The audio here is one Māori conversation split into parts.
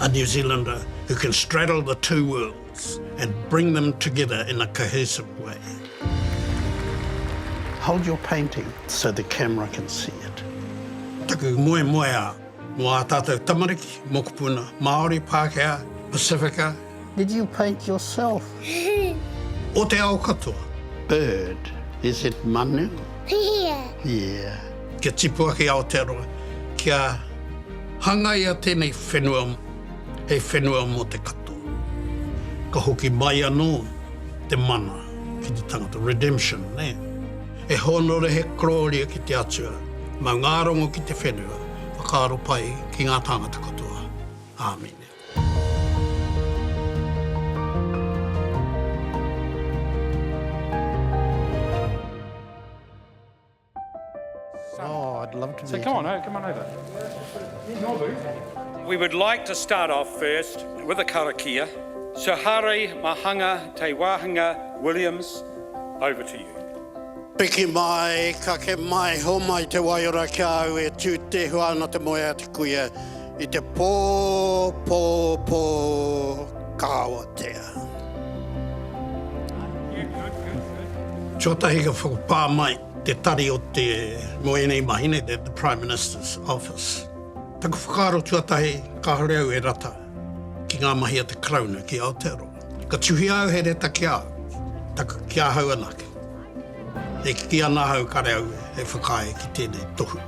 A New Zealander who can straddle the two worlds and bring them together in a cohesive way. Hold your painting so the camera can see it. Taku moemoeā mō ā tātou tamariki, mokopuna, Māori, Pākehā, Pasifika, Did you paint yourself? O te ao katoa. Bird, is it manu? Here. Here. Kia tipu ake i Aotearoa, kia hangaia tēnei whenua hei whenua mō te katoa. Ka hoki mai anō te mana ki te tangata, redemption, nē. E hōnore he korōria ki te Atua, mau ngā rongo ki te whenua, whakaaro pai ki ngā tāngata katoa. Āmine. We would like to start off first with a karakia, so Hārai Mahanga Te Wāhanga Williams, over to you. Piki mai, kake mai, homai te waiora ki a au e tū tehua ana te moe a te kuia. I te pō, pō, pō, ka awatea. Tuatahi ka whakapā mai te tari o te, nō ēnei mahi nei, the Prime Minister's Office. Taku whakaaro tuatahi, kāore au e rata ki ngā mahi a te Karauna ki Aotearoa. Ka tuhia au he reta ki a au, taku ki ahau anake. E kī ana ahau kāre au e whakaae ki tēnei tohu.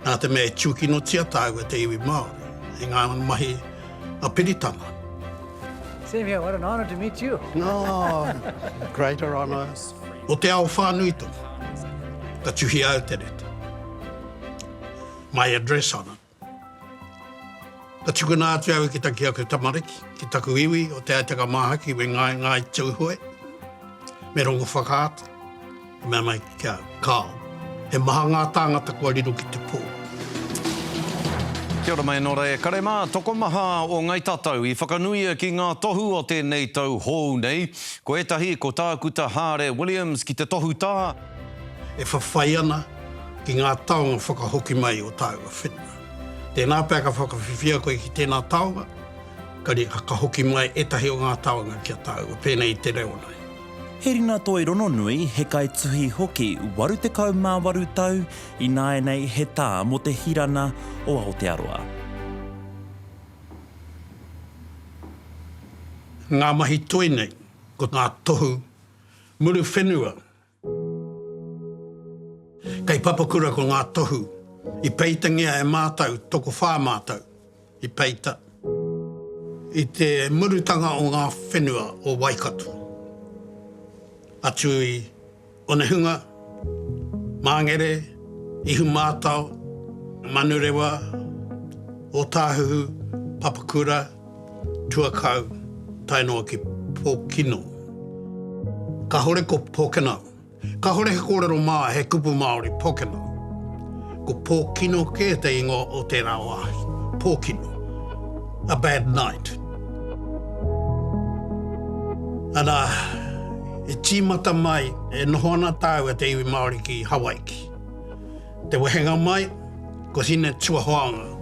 Nā te mea e tūkinotia tāu e te iwi Māori, e ngā mahi a Peritana. Same here, what an honour to meet you. Oh, greater honours. O te ao whānui tonu, ka tuhia au te reta. My address on it. Ka tukuna atu au ki ta ki aku tamariki, ki taku iwi o Te Aitanga Māhaki me Ngāi Ngāi Tūhoe, me Rongowhakaata. Ka mea mai ki au, Kāo. He maha ngā tāngata kua riro ki te pō. Kia ora mai nō reira e kare mā, tokomaha o Ngai Tatau i whakanuia ki ngā tohu o tēnei tau hōu nei. Ko ētahi, ko Tākuta Hāre Williams ki te tohu tā. E whawhai ana ki ngā taonga whakahoki mai o tāua whenua. Tēnā pea ka whakawhiwhia koe ki tēnā taonga, ka hoki mai ētahi o ngā taonga ki a tāua, pēnei i te reo nei. He rinatoi rononui, he kaituhi hoki 88 tau ināianei he tā mō te hirana o Aotearoa. Ngā mahi toi nei, ko ngā tohu muru whenua. Kei Papakura ko ngā tohu i peitangia e mātou, tokowhā mātou. I peita, i te murutanga o ngā whenua o Waikato, atu i Onehunga, Māngere, Ihumātao, Manurewa, Ōtāhuhu, Papakura, Tuakau, tae noa ki Pōkino. Kāhore ko Pōkeno Kahore he korero ma, he kupu Maori, Pokeno. Ko Pokino ke te ingoa o tera wahi. Pokino. A bad night. Ara, e timata mai, e noho ana tau e te iwi Maori ki Hawaiki. Te wehenga mai, ko Hine Tuahoanga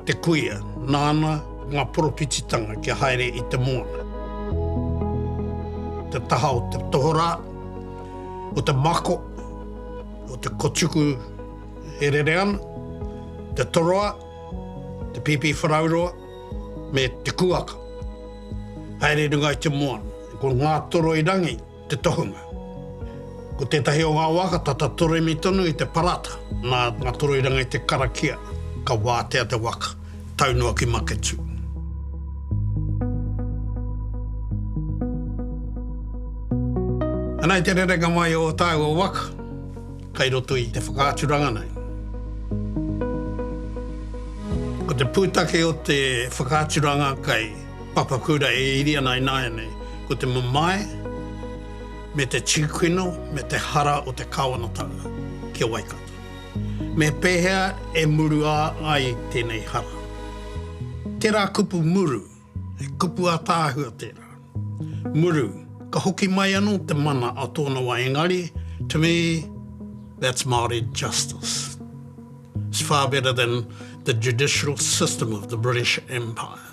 te kuia, nāna ngā poropititanga kia haere i te moana. Te taha o te tohorā, o te mako, o te kotuku e rere ana, te toroa, te pīpīwharauroa, me te kuaka. Haere runga i te moana. Ko Ngātoroirangi te tohunga. Ko tētahi o ngā waka tata toremi tonu i te parata, nā ngā toroiranga i te karakia, ka wātea te waka, tau noa ki Maketū. Ana i te rerenga mai o tāua waka, kai roto i te whakaaturanga nei. Ko te pūtake o te whakaaturanga kai. Papakura e iri ana i nāianei, ko te mamae, me te tīkino, me te hara o te kāwanatanga ki a Waikato. Me pēhea e murua ai tēnei hara? Tērā kupu muru, he kupu ātaahua tērā. Muru, ka hoki mai anō te mana a tōna wā engari, to me, that's Māori justice. It's far better than the judicial system of the British Empire.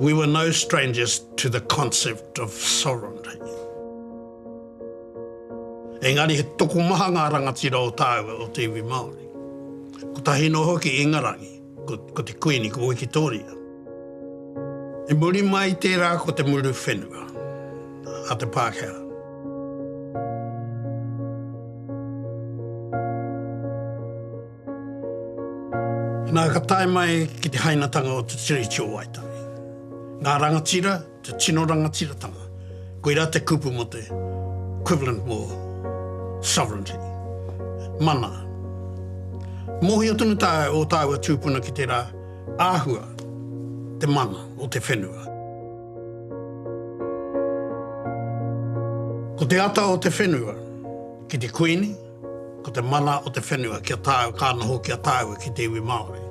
We were no strangers to the concept of sovereignty. Engari he tokomaha ngā rangatira o tāua o te iwi Māori. Kotahi noa hoki i Ingarangi, ko, ko te Kuini, ko Wikitoria. I muri mai tērā ko te muru whenua a te Pākehā. Nā, ka tae mai ki te hainatanga o te Tiriti o Waitangi. Ngā rangatira, te tino rangatiratanga, koirā te kupu mō te equivalent mō sovereignty, mana. Mōhio tonu tāu, ō tāua tūpuna ki tērā āhua, te mana o te whenua. Ko te ata o te whenua ki te Kuini, Ko te mana o te whenua kia tāu, ka noho ki a tāua ki te iwi Māori.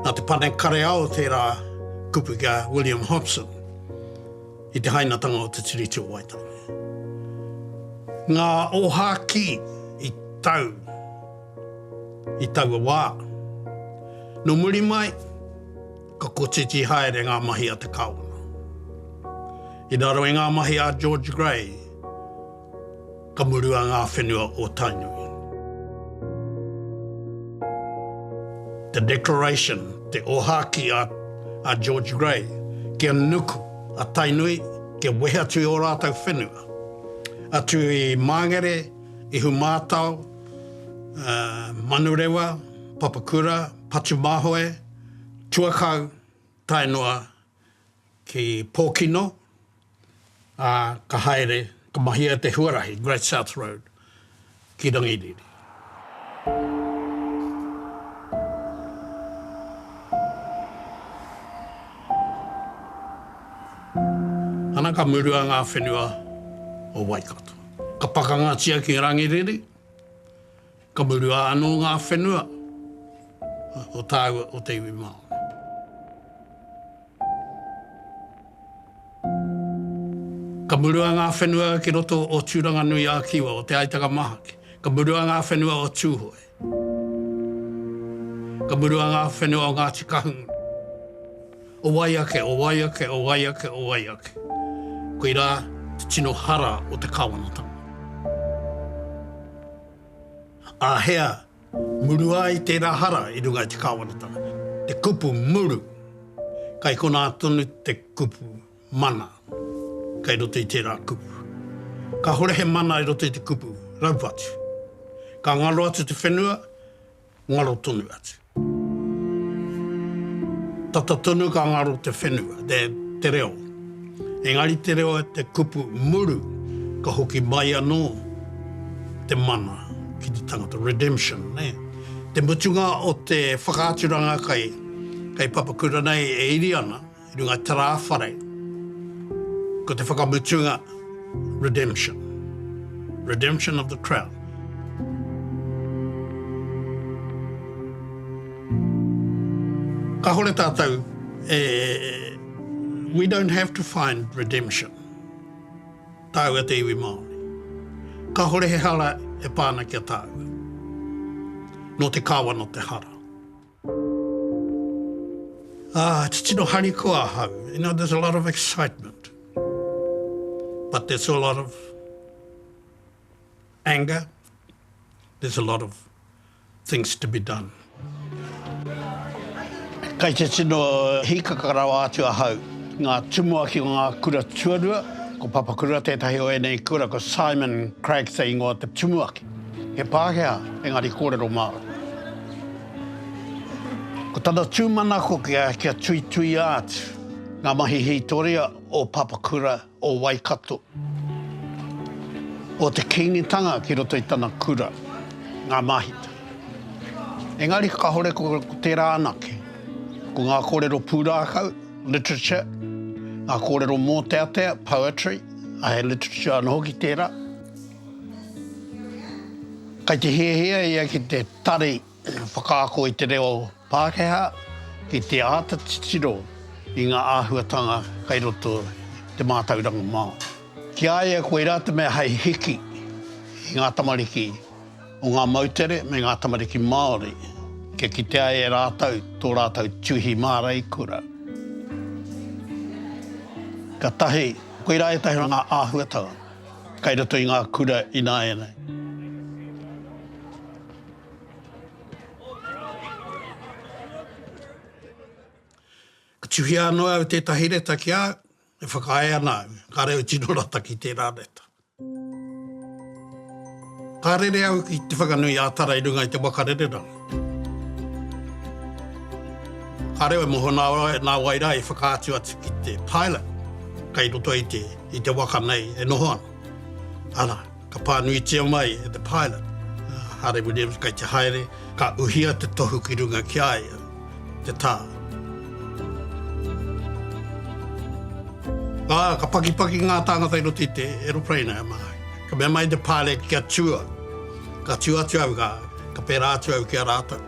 Nā te Pane Kareao tērā kupu ki a William Hobson i te hainatanga o te Tiriti o Waitangi. Ngā ōhākī i tau i taua wā. Nō muri mai, Ka kotiti haere ngā mahi a te Kawana. I raro i ngā mahi a George Grey, ka murua ngā whenua o Tainui. The Declaration, te ōhākī a George Grey, kia nuku a Tainui, kia wehe atu i ō rātou whenua, atu i Māngere, Ihumātao, Manurewa, Papakura, Patumāhoe, tuakau tae noa ki Pōkino, ā, ka haere, ka mahia te huarahi Great South Road ki Rangiriri. Ana ka murua ngā whenua o Waikato. Ka pakangatia ki Rangiriri. Ka murua anō ngā whenua o tāua o te iwi Māori. Ka murua ngā whenua ki roto o Tūranganui-ā-Kiwa, o Te Aitanga-mahaki. Ka murua ngā whenua o Tūhoe. Ka murua ngā whenua o Ngāti Kahungunu. O wai ake, o wai ake, o wai ake, o wai ake. Koirā te tino hara o te Kāwanatanga. Āhea muru ai tērā hara i runga i te kāwanatanga? Te kupu muru, kai konā tonu te kupu mana kei roto i tērā kupu. Kāhore he mana i roto i te kupu raupatu. Ka ngaro atu te whenua, ngaro tonu atu. Tata tonu ka ngaro te whenua, te, te reo. Engari te reo te kupu muru ka hoki mai anō te mana ki te tangata, redemption, nē. Te mutunga o te whakaaturanga kai, kai Papakura nei e iri ana, I runga tera whare, ko te whakamutunga redemption. Redemption of the crown. Kahore tatou, eh, we don't have to find redemption. Tau e te iwi Māori. Kahore he hara e pāna kia tāua. No te kawa, no te hara. Ah, titino harikoa ahau. You know, there's a lot of excitement. But there's a lot of anger. There's a lot of things to be done. Kai te tino hikaka rawa atu ahau. Ngā tumuaki o ngā kura tuarua, ko Papakura tētahi o ēnei kura, ko Simon Cragg te ingoa o te tumuaki. He Pākehā, engari kōrero Māori. Ko tana tūmanako kia, kia tuituia atu ngā mahi hītoria o Papakura o Waikato, o te Kīngitanga ki roto i tana kura, ngā māhita. Engari kahore ko tērā anake, ko ngā kōrero pūrākau, literature, ngā kōrero mōteatea, poetry, ahe literature anō hoki tērā, Kei te hiahia ia ki te tari whakaako i te reo Pākehā ki te āta titiro i ngā āhuatanga kei roto i te mātauranga Māori. Ki a ia koirā te mea hei hiki i ngā tamariki o ngā moutere me ngā tamariki Māori kia kitea e rātou tō rātou tuhi māreikura. Ka tahi, koirā ētahi o ngā āhuatanga. kai roto i ngā kura ināianei. Ka tuhia anō au tētahi reta ki a au, e whakaae ana au, kāre au tino rata ki tērā reta. Ka rere au ki Te Whanganui a Tara i runga i te waka rereranga. Ka reo e moho nā wai, nā wai rā i whakaatu atu ki te pilot kei roto i te, i te waka nei e noho ana. Arā, ka pānuitia mai e te pilot, a Hāre Williams kei te haere, ka uhia te tohu ki runga ki a ia, te tā. Ā, ka pakipaki ngā tāngata i roto i te aeroplane a Māui. Ka mea mai te Pāle ki a Tua, Ka tū atu au, ka, ka pērā atu au ki a rātou.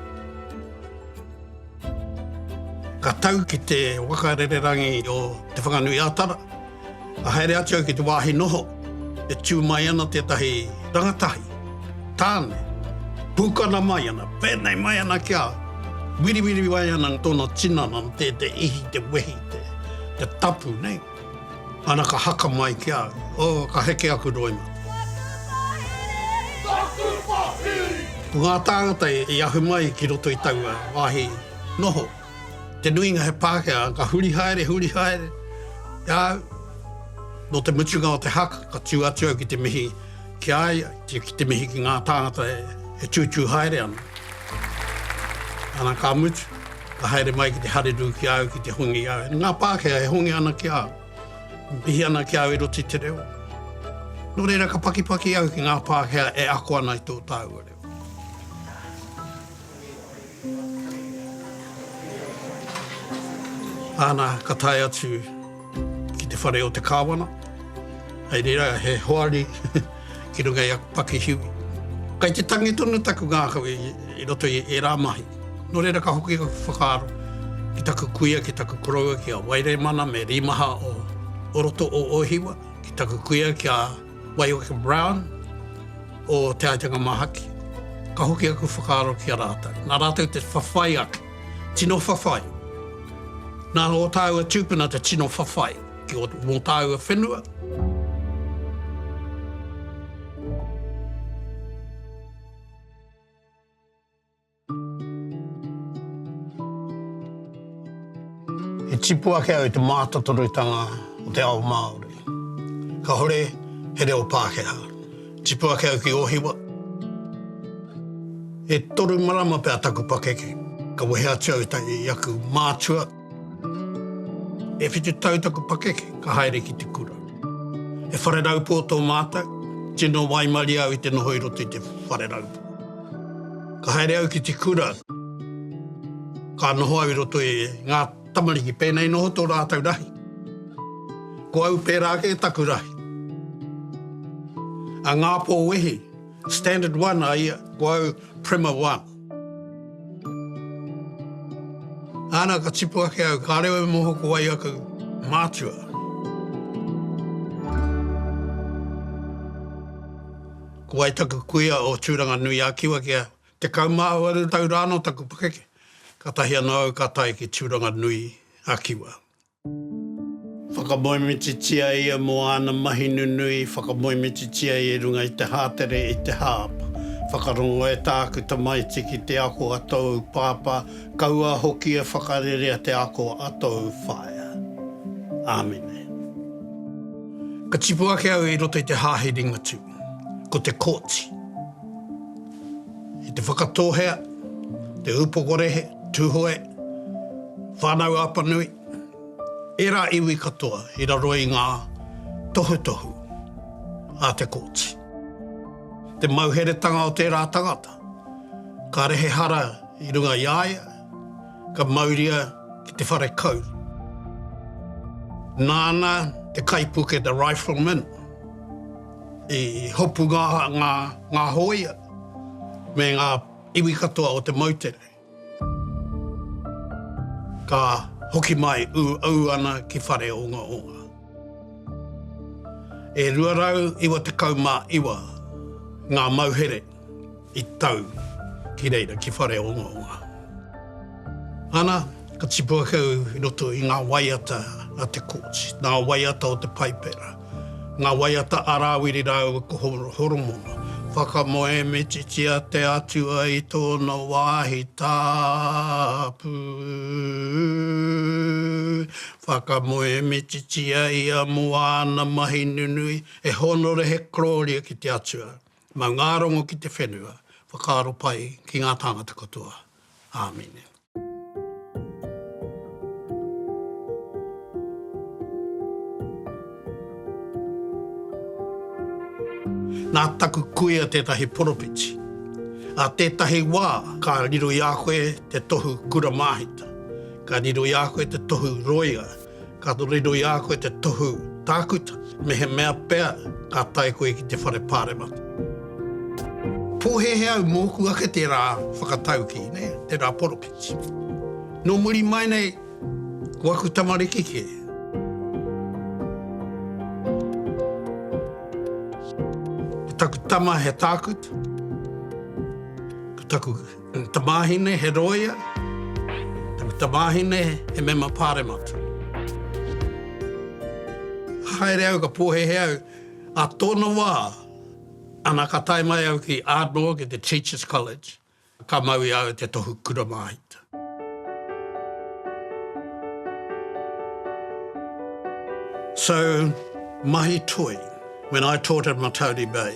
Ka tau ki te waka rererangi o Te Whanganui-a-Tara, ka haere atu au ki te wāhi noho, e tū mai ana tētahi rangatahi, tāne, pūkana mai ana, pēnei mai ana ki a au, wiriwiri mai ana tōna tinana, te, te ihi, te wehi, te, te tapu, nei. Ana ka haka mai ki a au. Oh, ka heke aku roima. Taku whahiri! Ko ngā tāngata i ahu mai ki roto i taua wāhi noho, te nuinga he Pākehā, ka huri haere, huri haere i a au. Nō te mutunga o te haka, ka tū atu au ki te mihi. Ki a ia, ki te mihi ki ngā tāngata e tūtū haere ana. Ana ka mutu, ka haere mai ki te harerū ki a au ki te hongi i a au. Ngā Pākehā e hongi ana ki a au, e mihi ana ki a au e roto i te reo. Nō reira ka pakipaki au ki ngā Pākehā e ako ana i tō tāua reo. Ana ka tae atu. Ki te whare o te Kāwana, hei reira he hoari ki runga i aku pakihiwi. Kei te tangi tonu taku ngākau i roto i ērā mahi. Nō reira ka hoki aku whakaaro ki taku kuia, ki taku koroua, ki a Wairēmana me Rīmaha o roto o Ōhiwa, ki taku kuia ki a Waioka Brown o Te Aitanga Māhaki. Ka hoki aku whakaaro ki a rātou. Nā rātou te whawhai ake. Tino whawhai. Nā ō tāua tūpuna te tino whawhai ki ō, mō tāua whenua. E tipu ake au i te mātotorutanga o te ao Māori. Kahore he reo Pākehā. Tipu ake au ki Ōhiwa. E toru marama pea taku pakeke, ka wehe atu au i aku mātua. E whitu tau taku pakeke, ka haere ki te kura. He whare raupō tō mātou, tino waimarie au i te noho i roto i te whare raupō. Ka haere au ki te kura, ka noho au i roto i ngā. Tamariki, pēnei noho tō rātou rahi. Ko au pērā kē taku rahi. A Ngāpō Wehi, Standard 1 a ia, ko au Prima 1. Ana ka tipu ake au, ka reo e moho ko wai aku mātua. Ko wai taku kuia o Tūranga Nui a Kiwa kia Tekau mā waru tau rāno taku pakeke, kātahi anō au ka tae ki Tūranga Nui a Kiwa. Whakamoemititia ia mō āna mahi nunui, whakamoemititia ia i runga i te hātere, i te hāapa. Whakarongo e tāku tamaiti ki te ako a tōu pāpā, kaua hoki e whakarerea te ako a tōu whaea. Āmine. Ka tipu ake au i roto i te hāhi Ringatū. Ko te Kōti. I te Whakatōhea, te Ūpokorehe, Tūhoe, Whānau Apanui, ērā iwi katoa i raro i ngā tohutohu a te Kōti. Te mauheretanga o tērā tangata, kāre he hara i runga i a ia, ka mauria ki te whare kau. Nāna te kaipuke The Rifleman i hopunga aha ngā hōia me ngā iwi katoa o te moutere. Ka hoki mai ū au ana ki Whareongaonga. E 299 ngā mauhere I tau ki reira ki Whareongaonga. Ana, ka tipu ake au i roto i ngā waiata a te Courts, ngā waiata o te Paipera, ngā waiata a Rāwiri rāua ko Horomona. Whakamoemititia te Atua i tōna wāhi tapu, whakamoemititia ia mō āna mahi nunui, e hōnore he korōria ki te Atua, Mau ngā rongo ki te whenua, whakaaro pai ki ngā tāngata katoa. Āmine. Nā taku kuia tētahi poropiti. Ā tētahi wā ka riro i a koe te tohu kura māhita, ka riro i a koe te tohu roia, Ka riroi i a koe te tohu tākuta, mehemea pea ka tae koe ki te whare Pāremata. Pōhēhē au mōku ake tērā whakataukī, tērā poropiti. Nō muri mai nei, ko aku tamariki kē. Ko taku tama he tākuta, ko taku. He tamāhine, he rōia. He tamāhine, he mema pāremata. Ka haere au, ka pōhēhē au. Ā tōna wā, ana ka tae mai au ki Ardmore, ki te Teachers College, ka mau i a au te tohu kura māhita. So, mahi toi, when I taught at Matauri Bay,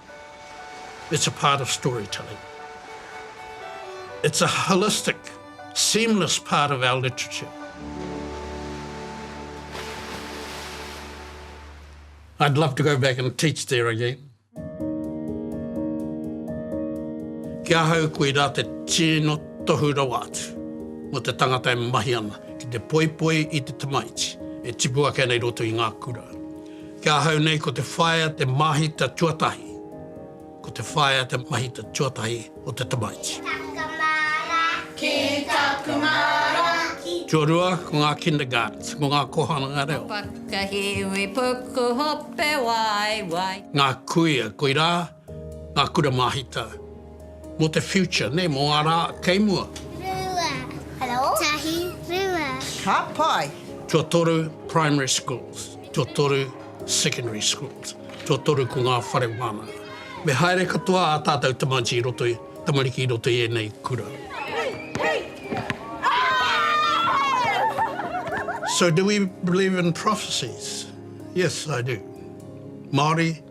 It's a part of storytelling. It's a holistic, seamless part of our literature. I'd love to go back and teach there again. Ki ahau koirā te tino tohu rawa atu mō te tangata e mahi ana ki te poipoi i te tamaiti e tipu ake ana i roto i ngā kura. Ki ahau nei ko te whaea te māhita tuatahi, ko te whaea te mahita tuatahi o te tamaiti. Ki taku māra, ki taku māra, ki. Tuarua, ko ngā kindergartens, ko ngā kōhanga reo. Paka hiwi puku hope waiwai. Ngā kuia, koirā. Ngā Kura Māhita mō te future, nē, mō ngā rā kei mua. Rua. Hello. Tahi. Rua. Ka pai! Tuatoru Primary Schools, tuatoru Secondary Schools, tuatoru ko ngā whare wānanga. Me haere katoa ā tātou tamaiti i roto i, tamariki i roto i ēnei kura. So do we believe in prophecies? Yes, I do. Māori.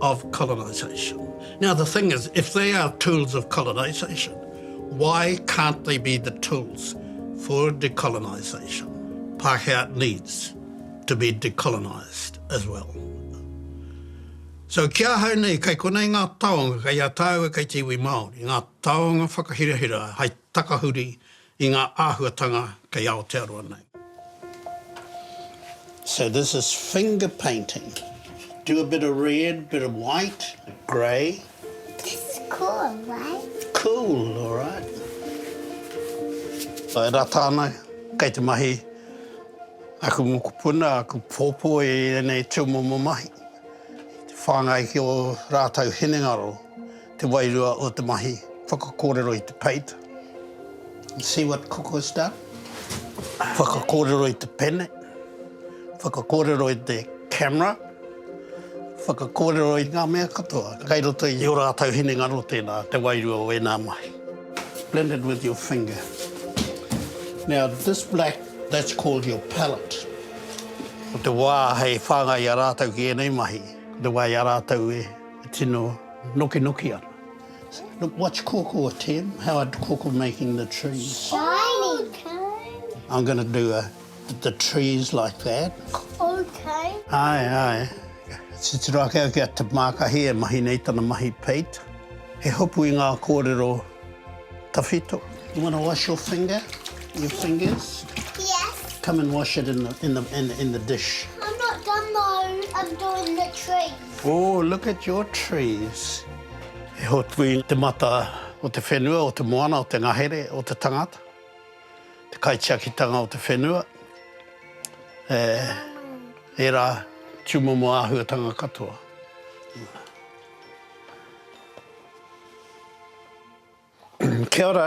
of colonisation. Now the thing is, if they are tools of colonisation, why can't they be the tools for decolonisation? Pākehā needs to be decolonised as well. So ki ahau nei, kei konei ngā taonga, kei a tāua kei te iwi Māori, ngā taonga whakahirahira hai takahuri i ngā āhuatanga kei Aotearoa nei. So this is finger painting. Do a bit of red, bit of white, grey. This is cool, right? Cool, all right. So e rata ana, kei te mahi aku mokopuna, aku pōpō i ēnei tūmomo mahi. Whāngai ki ō rātou hinengaro. Te wairua o te mahi whakakōrero i te peita. You see what Cook has done? Whakakōrero i te pene, whakakōrero i te camera, whakakōrero i ngā mea katoa kei roto i ō rātou hinengaro tēnā te wairua o ēnā mahi. Blend it with your finger. Now this black, that's called your palette. Ko te wā hei whāngai i a rātou ki ēnei mahi, ko te wā i a rātou e. E tino nokinoki ana. Look what's kuku a Tim, how are kuku making the trees. Shiny Tim. I'm going to do the trees like that. Ok. Ae ae, titiro ake au ki a Te Mākahi e mahi nei tana mahi peit, he hopu i ngā kōrero tawhito. You want to wash your finger, your fingers? Yes. Come and wash it in the dish. I'm not done though, I'm doing the tree. Oh, look at your trees. E hoki i te mata o te whenua, o te moana, o te ngahere, o te tangata, te kaitiakitanga o te whenua, e, ērā tūmomo āhuatanga katoa. Kia ora.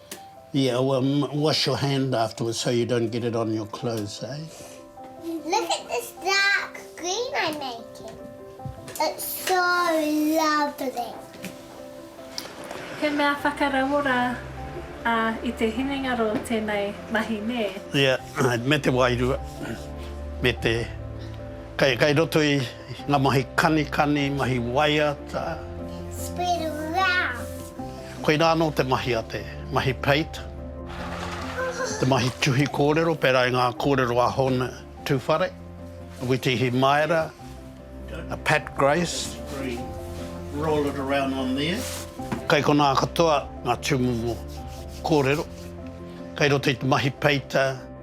Yeah well wash your hand afterwards so you don't get it on your clothes eh. Look at this dark green I'm making. It's so lovely. He mea whakarauora a i te hinengaro tenei mahi ne? Yeah me te wairua me te kai kai roto i Nga mahi kanikani, mahi waiata. Spread around. Koina ano te mahi a te mahi peita, te mahi tuhi korero, pera i nga korero a Hon Tuwhare, a Witihi Maera, a Pat Grace. Roll it around on there. Kai kona katoa nga tumumu korero kai roto i te mahi peita.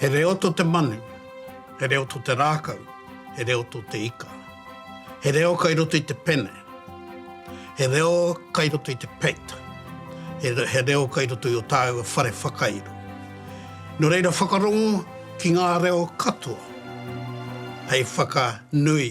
He reo to te manu, he reo to te rākau, he reo to te ika. He reo kai roto i te pene, he reo kai roto i te peita, he reo kai roto i o tāua whare whakairo. No reira whakarongo ki ngā reo katoa hei whakanui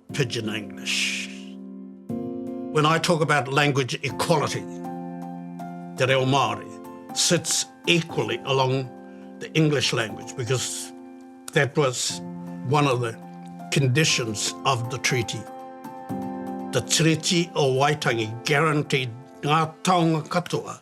Pidgin English. When I talk about language equality, te reo Māori sits equally along the English language because that was one of the conditions of the treaty. The Treaty o Waitangi guaranteed ngā taonga katoa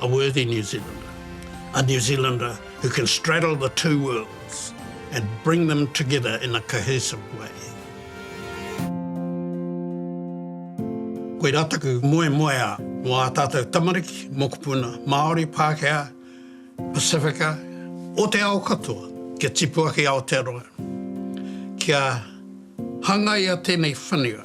A worthy New Zealander, a New Zealander who can straddle the two worlds and bring them together in a cohesive way. Koirā taku moemoeā mō ā tātou tamariki, mokopuna, Māori, Pākehā, Pasifika, o te ao katoa, kia tipu ake Aotearoa, kia hangaia tēnei whenua.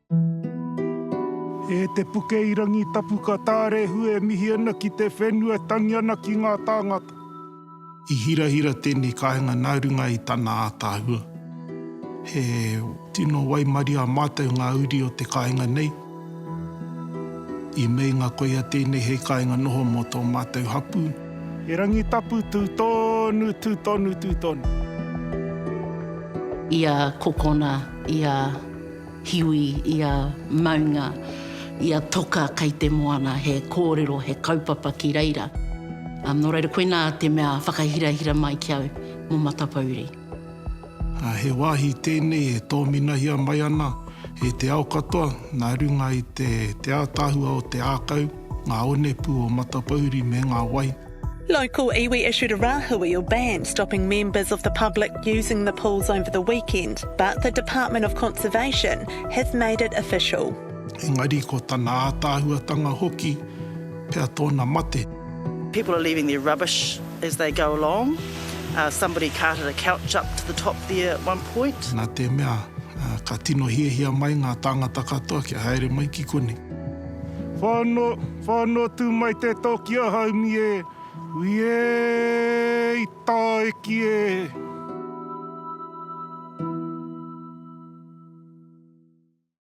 E te puke i rangi tapu ka tārehu e mihi ana ki te whenua e tangi ana ki ngā tāngata. I hirahira tēnei kāinga nā runga i tana ātaahua. He tino waimarie a mātou ngā uri o te kāinga nei. I meinga koia tēnei hei kāinga noho mō tō mātou hapū. He rangi tapu tū tonu, tū tonu, tū tonu. I a kokona, i a. Hiwi i a maunga, i a toka kei te moana, he kōrero, he kaupapa ki reira. Nō reira, koinā te mea whakahirahira mai ki au mō Matapouri. He wāhi tēnei e tōminahia mai ana e te ao katoa nā runga i te ātaahua o te ākau, ngā onepū o Matapouri me ngā wai. Local iwi issued a rahui or ban stopping members of the public using the pools over the weekend, but the Department of Conservation have made it official. Engari ko tana ātaahuatanga hoki pea tōna mate. People are leaving their rubbish as they go along, somebody carted a couch up to the top there at one point. Nā te mea ka tino hiahia mai ngā tāngata katoa kia haere mai ki konei. Whano. Whano tu mai te toki a Haumi e, ui e i taiki e.